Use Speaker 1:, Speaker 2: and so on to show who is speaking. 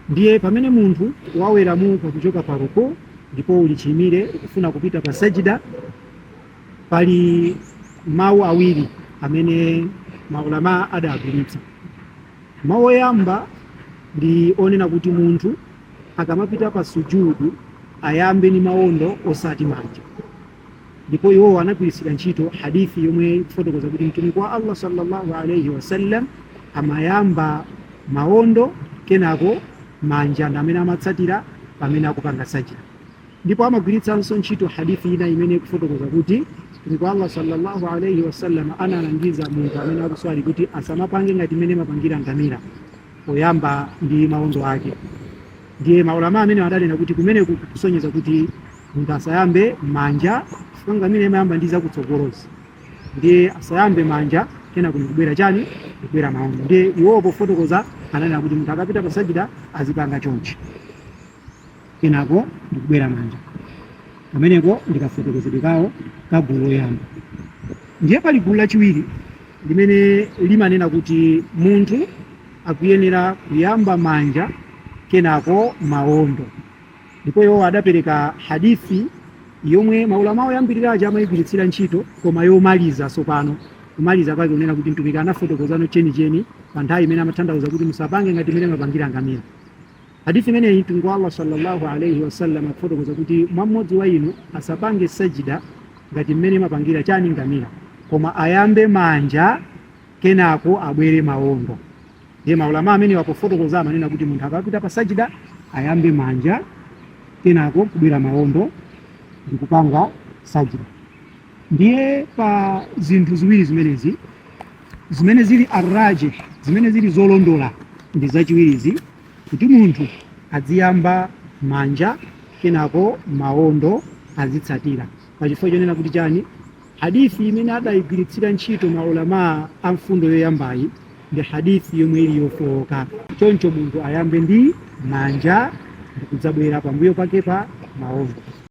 Speaker 1: Ndiye pamene munthu waweramuka kuchoka pa ruku ndipo uli chiyimire ukufuna kupita pa sajida, pali mawu awiri amene maulama adagwiritsa. Mawu oyamba ndi onena kuti munthu akamapita pa sujudu ayambe ndi mawondo osati manja, ndipo iwowo anagwiritsira ntchito hadithi yomwe ikufotokoza kuti mtumiki wa allah sallallahu alaihi wasallam amayamba maondo kenako manja ndi amene amatsatira pamene akupanga sajida ndipo amagwiritsanso ntchito hadithi ina imene ikufotokoza kuti mtumiki wa allah sallallahu alaihi wasallam analangiza munthu amene akuswali kuti asamapange ngati mmene imapangira ngamira poyamba ndi mawondo ake ndiye maulama amenewa adanena kuti kumeneku kukusonyeza kuti munthu asayambe manja si ngamira imayamba ndi zakutsogolozi ndiye asayambe manja kenako nkubwera chani kubwera mawondo ndiye iwowo pofotokoza ananena kuti munthu akamapita pasajida azipanga chonchi kenako ndikubwera manja kameneko ndikafotokozedwe kawo ka gulu loyamba ndiye pali gulu lachiwiri limene limanena kuti munthu akuyenera kuyamba manja kenako maondo ndipo iwo adapereka hadithi yomwe maulama oyambirira aja amayigwiritsira ntchito koma yomaliza tsopano kumaliza kwake kunena kuti mtumiki anafotokozano chenicheni pa nthawi imene amatanthauza kuti musapange ngati mmene imapangira ngamira Hadith imeneyi Mtumiki wa Allah sallallahu alayhi wasallam akufotokoza kuti mwa mmodzi wa inu asapange sajida ngati mmene imapangira chani ngamira, koma ayambe manja kenako abwere maondo. Ndiye maulama amenewa pofotokoza amanena kuti munthu akamapita pa sajida ayambe manja kenako kubwera maondo ndi kupanga sajida. Ndiye pa zinthu ziwiri zimenezi zimene zili arrajih zimene zili zolondola ndi zachiwirizi Kuti munthu adziyamba manja kenako maondo azitsatira. Pa chifukwa chonena kuti chani? Hadith imene adaigwiritsira ntchito ma ulamaa a mfundo yoyambayi ndi hadith yomwe ili yofooka. Choncho munthu ayambe ndi manja ndikudzabwera pambuyo pake pa maondo.